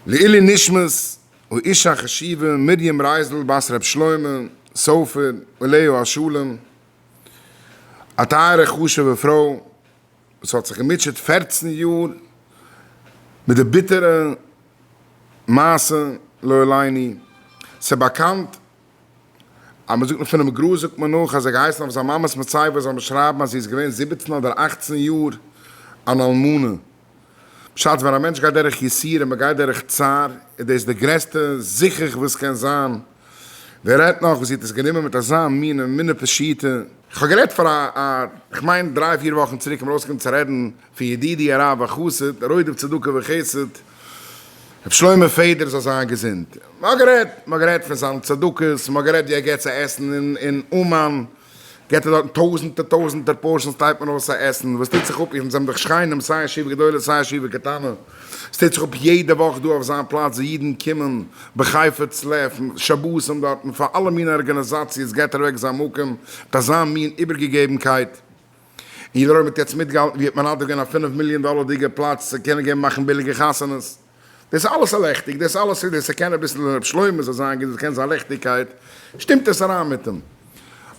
לעילי נשמת האישה החשובה מרים רייזל בת ר' שלמה סופר אליהו השלם, א טייערע חשובע פרוי וואס האט זיך געמוטשעט פֿערצן יאר מיט די ביטערע מעשה לא עליני, ס'איז באקאנט אז מען זאגט נאך פונעם גראז זאגט מען נאך אז ער האט געהייסן אויף זיין מאמע'ס מצבה זאל מען שרייבן אז זי איז געווען זיבעצן אדער אַכצן יאר אן אלמנה. בשעת ווען א מענטש גייט דורך יסורים, ער גייט דורך צער, איז דאס די גרעסטע זיכוך וואס קען זיין, ווער רעדט נאך וואס זי האט עס גענומען מיט אזא מינע מינע פשיטא. איך האב גערעדט פאר א א איך מיין דריי פיר וואכן צוריק און מיר אויסגעקומען צו רעדן פון ידידי הרב החסיד רודף צדקה וחסד ר' שלמה פעדער זאל זיין געזונט, מען האט גערעדט מען האט גערעדט פון זיינע צדקות, מען האט גערעדט ווי ער געבט צו עסן אין אין אומאן, געט ער דארטן טויזענטער טויזענטער פארשענס טייט מען אויס א עסן וואס טוט זיך אפ און זענען דאך שכנים סיי ישיבה גדולה סיי ישיבה קטנה עס טוט זיך אפ יעדע וואך דא אויף זיין פלאץ ווי אידן קומען בחפץ לב שבתים דארטן פאר אלע מינע ארגענעזאציעס געט ער אוועק זיין מקום מיט אזא מין איבערגעגעבנקייט און יעדער אויב מען האט יעצט מיטגעהאלטן ווי ער האט מנדב געווען א פינף מיליאן דאלערדיגע פלאץ צו קענען געבן מאכן ביליגע חתונות. דאס איז אלעס א לעכטיג, דאס אלעס איז ווער ס'קען אביסל ר' שלמה זאל זיין געזונט קען זיין לעכטיגקייט, שטימט עס אריין מיט אים.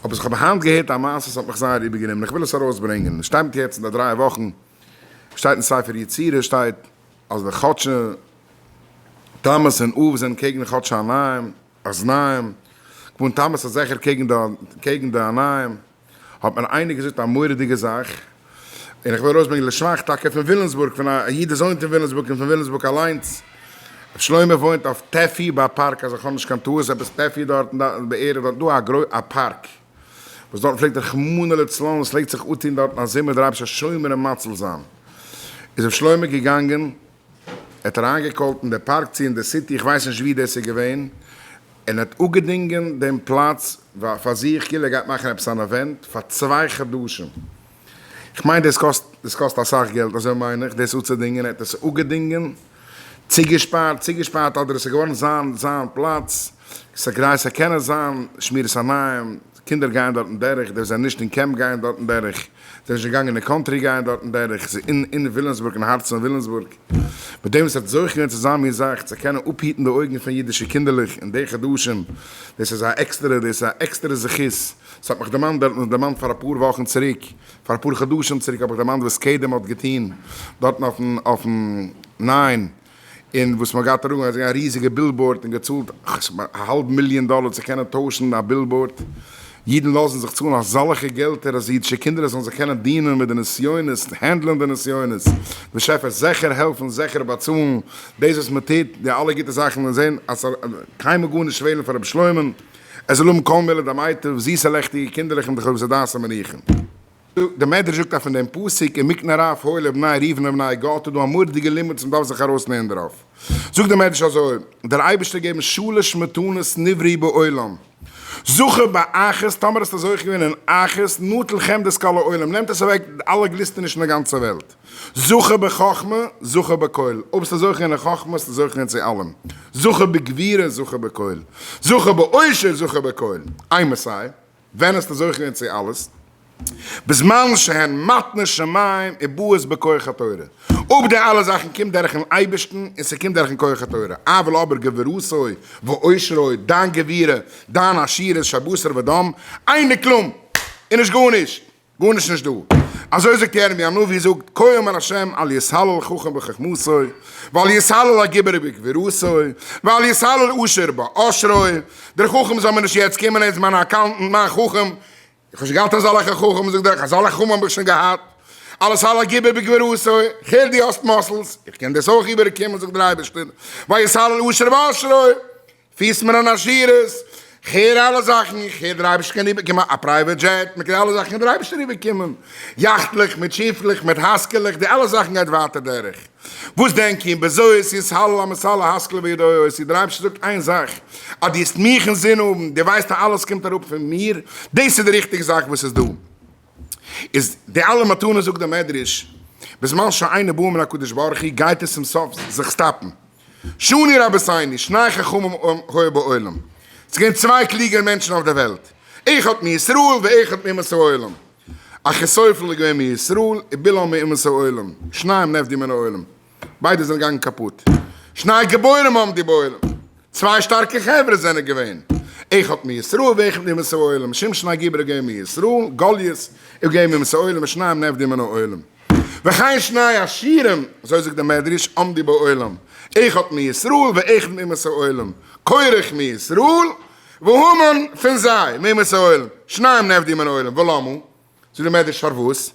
אבער איך האב היינט געהערט א מעשה עס האט מיך זייער איבערגענומען איך וויל עס ארויסברענגען, עס שטייט מיט יעצט אין די דריי וואכן, שטייט אין ספר יצירה שטייט אז די חדשי תמוז און אב זענען קעגן די חדשי אנעים, אזניים, כמובן תמוז איז זיכער קעגן די קעגן די אנעים, האט מיר איינער געזאגט א מורא'דיגע זאך, און איך וויל ארויסברענגען לשבח טאקע פון וויליאמסבורג, פון א איד וואס וואוינט אין וויליאמסבורג און פון וויליאמסבורג אליינס, ר' שלמה וואוינט אויף טעפי ביי א פארק, אז איך האב נישט קיין טעות, עפעס טעפי דארטן בערך, דארט איז דא א גרויס א פארק, וואס דארטן פלעגט רחמנא לצלן וואס פלעגט זיך אפטון דארטן א זומער דער אייבערשטער שומר און מציל זיין, איז ר' שלמה געגאנגען. ער האט אריינגעקאלט אין די פארק צו אין די סיטי, איך ווייס נישט ווי דאס איז געווען, און האט אפגעדינגען דעם פלאץ פאר זיך, כאילו ער גייט מאכן עפעס אן אווענט, פאר צוויי חדשים. איך מיין דאס קאסט דאס קאסט אסאך געלט, אזוי מיין איך, דאס אפצודינגען, ער האט עס אפגעדינגען, צוגעשפארט, צוגעשפארט אדער עס איז געווארן זיין זיין פלאץ, ס'איז כדי ס'זאל קענען זיין שמירת עיניים. קינדער גייען דארטן דורך, די וואס זענען נישט אין קעמפ גייען דארטן דורך, די וואס זענען שוין געגאנגען אין קאנטרי גייען דארטן דורך, ס'איז אין אין וויליאמסבורג אין הארצן פון וויליאמסבורג, מיט דעם וואס עס וועט זוכה געווען צו זיין מיר זאך צו קענען אפהיטן די אויגן פון אידישע קינדערלעך אין די חדשים, דאס איז א עקסטערע דאס איז א עקסטערע זכות, ס'האט מיך דערמאנט דער האט דערמאנט פאר אפאר וואכן צוריק, פאר אפאר חדשים צוריק האב איך דערמאנט וואס קדם האט געטוהן דארטן אויפן אויפן ניין. און וואס מ'האט געהאט אראפגעלייגט אזא ריזיגע בילבאורד און געצאלט א האלב מיליאן דאלער צו קענען טוישן א בילבאורד, אידן לאזן זיך צאלן אזאלעכע געלטער אז אידישע קינדער זאלן זיך קענען דינען מיט די נסיונות, הענדלען די נסיונות, דער שעפער זעכער העלפן זעכער באצאלן דאס וואס מ'טוט, די אלע גוטע זאכן און זען אז ס'זאל קיינמאל גארנישט פעלן פאר רבי שלמה, ער זאל האבן כל מילי דמיטב, זיסע לעכטיגע קינדערלעך און די חובזי דעת המניחים. די מדרש זאגט אז פון דעם פסוק אין מקנה רב הוילע בני ריבן און בני גד איז דא א מורא'דיגע לימוד וואס מען דארף זיך ארויסלערנען דערויף. זאגט דער מדרש אזוי, דער אייבערשטער געבן שלש מתנות נבריא בעולם, זכה באחת, טאמער האסטו זוכה געווען אין אחת, נטל חמדת כל העולם, נעמט עס אוועק אלע גליסטענישן אין די גאנצע וועלט, זכה בחכמה, זכה בכל, אויב ביסטו זוכה אין חכמה ביסטו זוכה אין צו אלעם, זכה בגבירה, זכה בכל, זכה בעושר, זכה בכל. איי מעסיי? ווען האסטו זוכה געווען צו אלעס? בזמן שהן מתנות שמים ובאות בכח התורה, אויב די אלע זאכן קומט דורכן אייבערשטן און ס'קומט דורכן כח התורה, אבל אבער גבורתו ועושרו, דיין גבורה, דיין עשירות שבשר ודם, איין דקלום און נישט גארנישט! גארנישט נישט דא. אזוי זאגט ירמי' הנביא זאגט כה אמר ה' אל יתהלל חכם בחכמתו ואל יתהלל הגיבור בגבורתו ואל יתהלל עושר בעושרו, דער חכם זאל מיר נישט יעצט קומען איז מיין אקאונטענט מיין חכם, איך האב שוין געהאט אזאלעכע חכם זאגט ער, אזאלעכע חכמים האב איך שוין געהאט, אל יתהלל הגיבור בגבורתו, איך הער דו האסט מאסלס, איך קען דאס אויך איבערקומען זאגט דער אייבערשטער, ואל יתהלל עושר בעושרו, פירסט מיר אן עשירות, כ'הער אלע זאכן, כ'הער דער אייבערשטער קען איבערקומען א פרייוועט דזשעט, מ'קען אלע זאכן קען דער אייבערשטער איבערקומען, יאכטלעך מיט שיפלעך מיט הייזקעלעך, די אלע זאכן גייט ווייטער דורך, וואס דענק איר, בזהות ישהלאל המסלא השכלה וידעו אויס איר, דער אייבערשטער זאגט איין זאך, אז דו האסט מיך אין זין האבן, דו ווייסט אז אלעס קומט אראפ פון מיר, דאס איז די ריכטיגע זאך וואס איז דא, איז די אלע מתנות זאגט דער מדרש, בזמן שאינו בא מן הקדוש ברוך הוא גייט עס צום סוף זיך סטאפן. שני רבותיני, שני חכמים היו בעולם, ס'איז געווען צוויי קלוגערע מענטשן אויף דער וועלט, אחד מישראל ואחד מאומות העולם, אחיתופל איז געווען מישראל און בלעם מאומות העולם, שניהם נפדים מן העולם, ביידע זענען געגאנגען קאפוט, שני גיבורים עמדו בעולם, צוויי שטארקע חברה זענען געווען, אחד מישראל ואחד מאומות העולם, שמשון הגיבור איז געווען מישראל, גליות איז געווען מאומות העולם, שניהם נפדים מן העולם. וכן שני השירים, אזוי זאגט דער מדרש, עמדי בעולם, איך האט מי ישראל ואחד מאומות העולם, קורח מישראל והמן פון זיי מאומות העולם, שניהם נעבדי מן העולם, ולמה? זאגט דער מדרש פארוואס?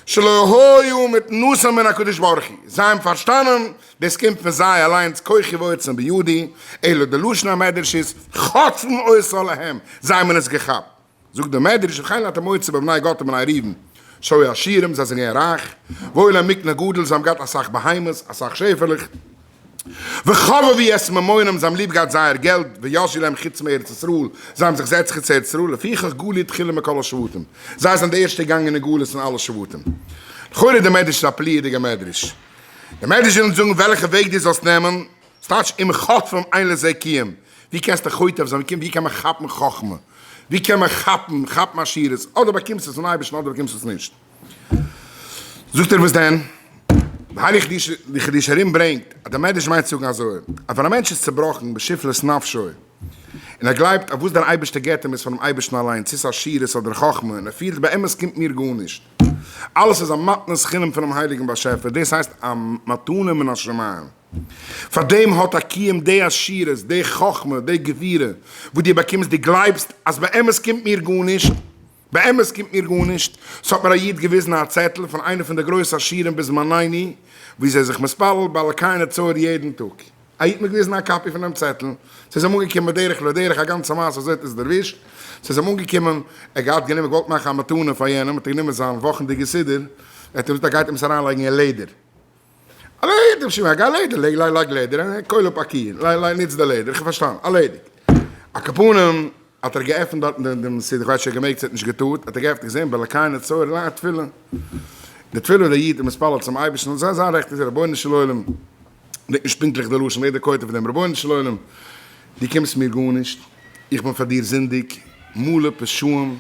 שלא היו מתנוסים מן הקדוש ברוך הוא, זיי האבן פארשטאנען דאס קומט פון זיי אליינס כוחי ועוצם בידי, אלא די לשון המדרש איז חטפו אותה להם, זיי האבן עס געכאפט. זאגט דער מדרש וכן הייתה מועצה בבני גת ובני ראובן שהיו עשירים זיי זענען געווען רייך והיו להם מקנה גדול זיי האבן געהאט אסאך בהמות אסאך שעפעלעך וחבבי את ממונם זיי האבן ליב געהאט זייער געלט וישי להם חוץ מארץ ישראל זיי האבן זיך זעצט חוץ ארץ ישראל לפיכך גלו תחילה מכל השבטים זיי זענען די ערשטע געגאנגען אין גלות פון אלע שבטים. לכאורה איז דער מדרש איז א פליא'דיגער מדרש. דער מדרש וויל אונז זאגן וועלכע וועג דו זאלסט נעמען. ס'טייטש אם חוטפים אין לזה קיים, ווי קענסטו חוטף זיין, ווי קען מען כאפן חכמה, ווי קען מען כאפן כאפן עשירות, אדער באקומסטו עס פון אייבערשטן אדער באקומסטו עס נישט. זאגט ער וואס דען? והאריך די חידוש הרים ברענגט אז דער מדרש מיינט צו זאגן אזוי, אז ווען א מענטש איז צעבראכן בשפלות נפשו, און ער גלייבט אז וואס דער אייבערשטער גיבט אים איז פונעם אייבערשטן אליין, צי ס'איז עשירות אדער חכמה, און ער פילט באמת קומט מיר גארנישט, אלעס איז א מתנת חינם פונעם הייליגן באשעפער, דאס הייסט א מתנה מן השמים. פאר דעם האט א קיום די עשירות, די חכמה, די גבירה וואס דו באקומסט, דו גלייבסט אז באמת קומט מיר גארנישט, באמת קומט מיר גארנישט, ס'האט מיר א איד געוויזן א צעטל פון איינע פון די גרויסע עשירים בזמנינו, וואו זיי זיך מתפלל ביי אלקי נצור יעדן טאג, א איד האט מיר געוויזן א קאפי פון דעם צעטל, ס'איז אים אנגעקומען בדרך לא דרך, א גאנצע מעשה אזוי האט עס דערווישט, ס'איז אים אנגעקומען, ער האט געהאט גענומען געוואלט מאכן א מתנה פאר יענעם, האט ער גענומען זיין וואכנדיגע סידור, ער האט אים געזאגט אז ער גייט אים עס אריינלייגן אין לעדער. א לעדער שמעק, א לעדער לייג לייג לייג לעדער א קויל אפ א קיען לייג לייג ניץ די לעדער איך האב פארשטאנען ארלעדיגט א קאפאנעם האט ער געעפענט דארטן דעם דעם סידור כ'ווייס נישט האט געמעגט ס'האט נישט געטארט האט ער געעפענט געזען ביי לקיינו צוהר ליין א תפילה די תפילה וואס דער איד האט מתפלל צום אייבערשטן און זיין זיין רעכט איז רבונו של עולם וויט נישט פונקטליך די לשון לעדער כותב דעם רבונו של עולם דו קומסט מיר גארנישט איך בין פאר דיר זינדיג מלא פשעים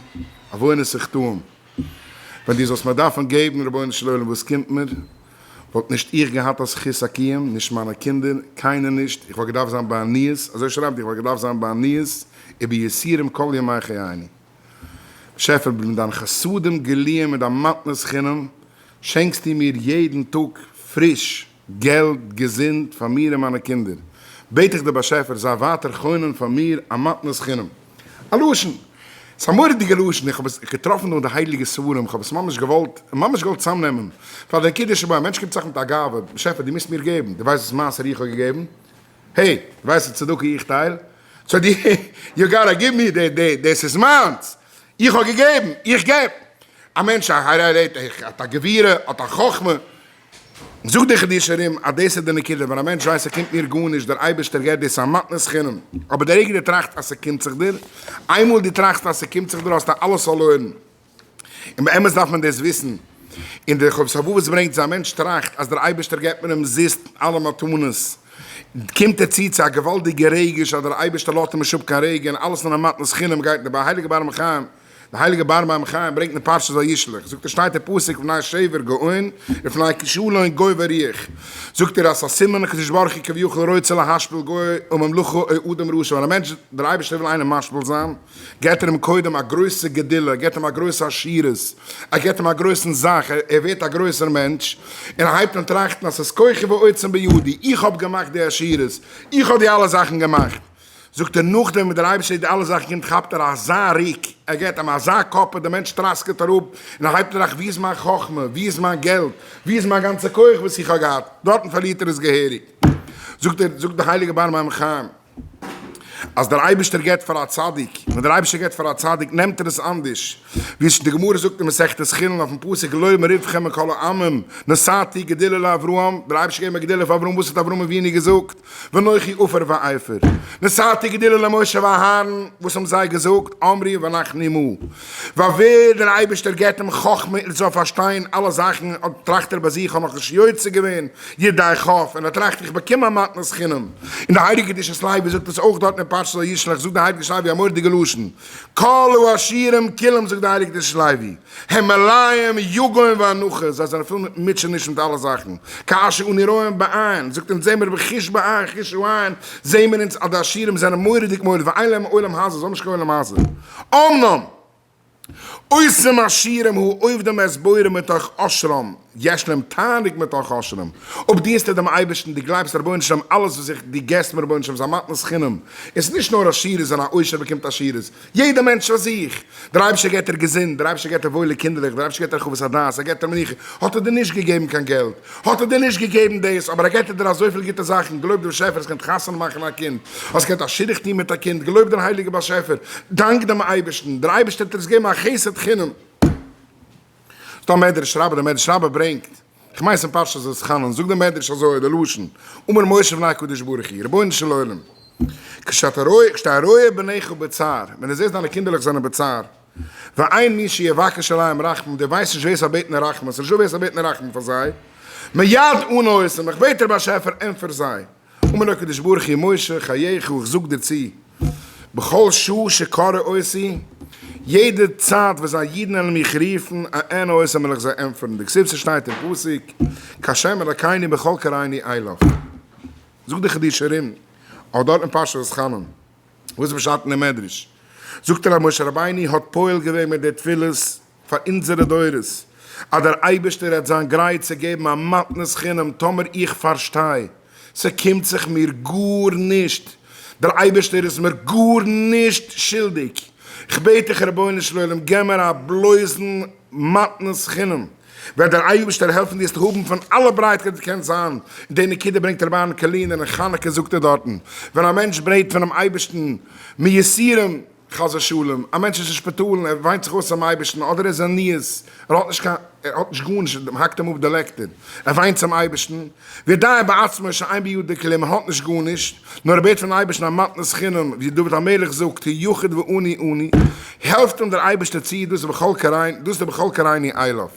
עוונות וחטאים. ווען דו זאלסט מיר דארפן געבן, רבונו של עולם, וואס קומט מיר? וואלט נישט איך געהאט א זכות הקיום, נישט מיינע קינדער, קיינער נישט, איך וואלט געדארפט זיין בעניות, אזוי שרייבט ער, איך וואלט געדארפט זיין בעניות וביסורים כל ימי חייני. באשעפער, מיט דיינע חסדים גלויים, מיט דיין מתנת חינם, שענקסטו מיר יעדן טאג פריש, געלט, געזונט, פאר מיר און מיינע קינדער, בעט איך דער באשעפער זיי ווייטער חונן פאר מיר א מתנת חינם. א לשון! ס'איז א מורא'דיגע לשון, איך האב עס געטראפן דא אין די הייליגע ספרים, איך האב עס ממש געוואלט, ממש געוואלט צאמנעמען, פאר דער קידוש שבו, א מענטש קומט זיך מיט א גאווה, באשעפער דו מוזט מיר געבן, דו ווייסט וואס מעשר איך האב געגעבן? העי, דו ווייסט וואס צדקה איך טייל? סאו דו, יו גאטא גיוו מיר, דאס איז מיינס! איך האב געגעבן, איך געב! א מענטש א הרה ר, האט א גבירה, האט א חכמה, זאגט דער חידוש הרים אז דאס איז די נקודה, ווען א מענטש ווייסט ס'קומט מיר גארנישט, דער אייבערשטער געבט דאס א מתנת חינם, אבער די רגע דו טראכסט אז ס'קומט זיך דיר, איינמאל דו טראכסט אז ס'קומט זיך דיר האסטו אלעס פארלוירן, און באמת דארף מען דאס וויסן, און דער חובת הלבבות ברענגט אז א מענטש טראכט אז דער אייבערשטער געבט מיר אומזיסט אלע מתנות, קומט ער צו צו א געוואלדיגע רגש אז דער אייבערשטער לאזט אים נישט אפ קיין רגע, און אלעס נאר א מתנת חינם גייט דער בעל הייליגער באר מים חיים, דער הייליגער באר מים חיים ברענגט אין פרשת וישלח, זאגט ער שטייט אין פסוק ופני שבר גאון ופני כשלון גוי וריח, זאגט ער אז ס'איז א סימן הקדוש ברוך הוא כביכול רוצה להשפיל גוי וממלכו או אדם רשע, ווען א מענטש דער אייבערשטער וויל איינעם משפיל זיין געבט ער אים קודם א גרויסע גדילה, ער געבט אים א גרויסע עשירות, ער געבט אים א גרויסן זאך, ער ווערט א גרויסער מענטש, און ער הייבט אן טראכטן אז ס'איז כוחי ועוצם בידי, איך האב געמאכט די עשירות, איך האב די אלע זאכן געמאכט. זאגט ער נאכדעם וואס דער אייבערשטער איז די אלע זאכן געגעבן כאפט ער אזא ריק, ער געט אים אזא כאפ אז דער מענטש טראסקעט אראפ און ער הייבט טראכט ווי איז מיין חכמה, ווי איז מיין געלט, ווי איז מיין גאנצע כח וואס איך האב געהאט, דארטן פארלירט ער עס געהעריג. זאגט ער, זאגט דער הייליגער באר מים חיים, אז דער אייבערשטער געבט פאר א צדיק, ווען דער אייבערשטער געבט פאר א צדיק נעמט ער עס אנדערש, ווי די גמרא זאגט אין מסכת חולין אויפן פסוק לא מרווחם מכל העמים נשאתי גדילה לאברהם, דער אייבערשטער געבן א גדילה פאר אברהם, וואס האט אברהם אבינו געזאגט? ואנכי עופר ואיפר נשאתי גדילה למשה ואהרן, וואס האבן זיי געזאגט, אמרי ואנחנו עמו, ווייל ווער דער אייבערשטער געבט אים חכמה ער זאל פארשטיין אלע זאכן, אט טראכט ער ביי זיך, כ'האב נאך נישט יוצא געווען ידי כ', און ער טראכט איך באקום א מתנת חינם, און די הייליגע קדושת לוי זאגט עס אויך דארטן אין פרשת וישלח, זאגט די הייליגע שרייבער א מורא'דיגע לשון, כלו השירים כולם זאגט די הייליגע קדושת לוי. העמליים יגון ואנחה, זיי זענען פול מיט מוטשעניש מיט אלע זאכן, כאשר אנו רואים בעין, זאגט אונז זעמיר ווי חיש בעין חישו עין, זעמיר אונז אז די עשירים זענען מורא'דיג מורא ואין להם עולם הזה, זיי האבן נישט קיין עולם הזה. אמנם, אויסער מעשירים הוא עובדים את בוראם מתוך עושרם, יש להם תענוג מתוך אשרים, אויב דינסטו דעם אייבערשטן, דו גלייבסט דער רבונו של עולם, אלעס וואס איך, דו געסט מיר רבונו של עולם איז א מתנת חינם, עס איז נישט נאר עשירות, און א עושר באקומט עשירות, יעדער מענטש פאר זיך, דער אייבערשטער געבט דיר געזונט, דער אייבערשטער געבט דיר וואוילע קינדערלעך, דער אייבערשטער געבט דיר חוות הדעת, ער געבט דיר מנוחה, האט ער דיר נישט געגעבן קיין געלט, האט ער דיר נישט געגעבן דאס, אבער ער געבט דיר אזויפיל גוטע זאכן, געלויבט דעם באשעפער, האסט געקענט חתונה מאכן א קינד, האסט געקענט א שידוך טון מיט א קינד, געלויבט דעם הייליגן באשעפער, דאנק דעם אייבערשטן, דער אייבערשטער האט דיר עס געגעבן א חסד חינם. דער מדרש רבה, דער מדרש רבה ברענגט, כ'מיין ס'אין פרשת ואתחנן, זאגט דער מדרש אזוי, דער לשון, אמר משה בפני הקדוש ברוך הוא, רבונו של עולם, כשאתה רואה, כשאתה רואה בניך בצער, ווען דו זעסט דיינע קינדערלעך זענען בצער, ואין מי שיבקש עליהם רחמים, דו ווייסט נישט ווער ס'זאל בעטן רחמים, ס'איז נישטא ווער ס'זאל בעטן רחמים פאר זיי, מיד ענה אותם, איך בעט דיר באשעפער ענטפער זיי. אמר הקדוש ברוך הוא משה חייך איך זאג דיר צו בכל שעה שקרא אותי יעדע צייט וואס זיי אידן עלן מיך רופן אענה אותם וועל איך זיי ענטפערן די קציצה שטייט אין פסוק כהשם אלקיני בכל קראיני אליך זאגט די חידוש הרים אויך דארט אין פרשת חנון וואס איז פשט אין די מדרש זאגט ער אז משה רבינו האט פועל געווען מיט די תפילות פאר אונזערע דורות, אז דער אייבערשטער העט זיין גרייט צו געבן א מתנת חינם טאמער איך פארשטיי, ס'קומט זיך מיר גארנישט, דער אייבערשטער איז מיר גארנישט שולדיג, כ'בעט דיך רבונו של עולם געב מיר א בלויזן מתנת חינם, וועט דער אייבערשטער העלפן דיר עס האבן פון אלע ברייטקייט וואס דו קענסט זיין, און די נקודה ברענגט רבי אהרן קארלינער אין חנוכה זאגט ער דארטן, ווען א מענטש בעט פונעם אייבערשטן מיסירים, חס ושלום, א מענטש איז אין שפיטאל און ער וויינט זיך אויס צום אייבערשטן, אדער ער איז עניית, ער האט נישט קיין, ער האט נישט גארנישט, מען האקט אים אפ די לעקטער, ער וויינט צום אייבערשטן, וידעי בעצמו שאין בידו כלום, מען האט נישט גארנישט, נאר ער בעט פון אייבערשטן א מתנת חינם, ווי דוד המלך זאגט, ה' יחיד ואני אני, העלפט אים דער אייבערשטער צו, דאס איז בכל קריני, דאס איז בכל קריני אילוף.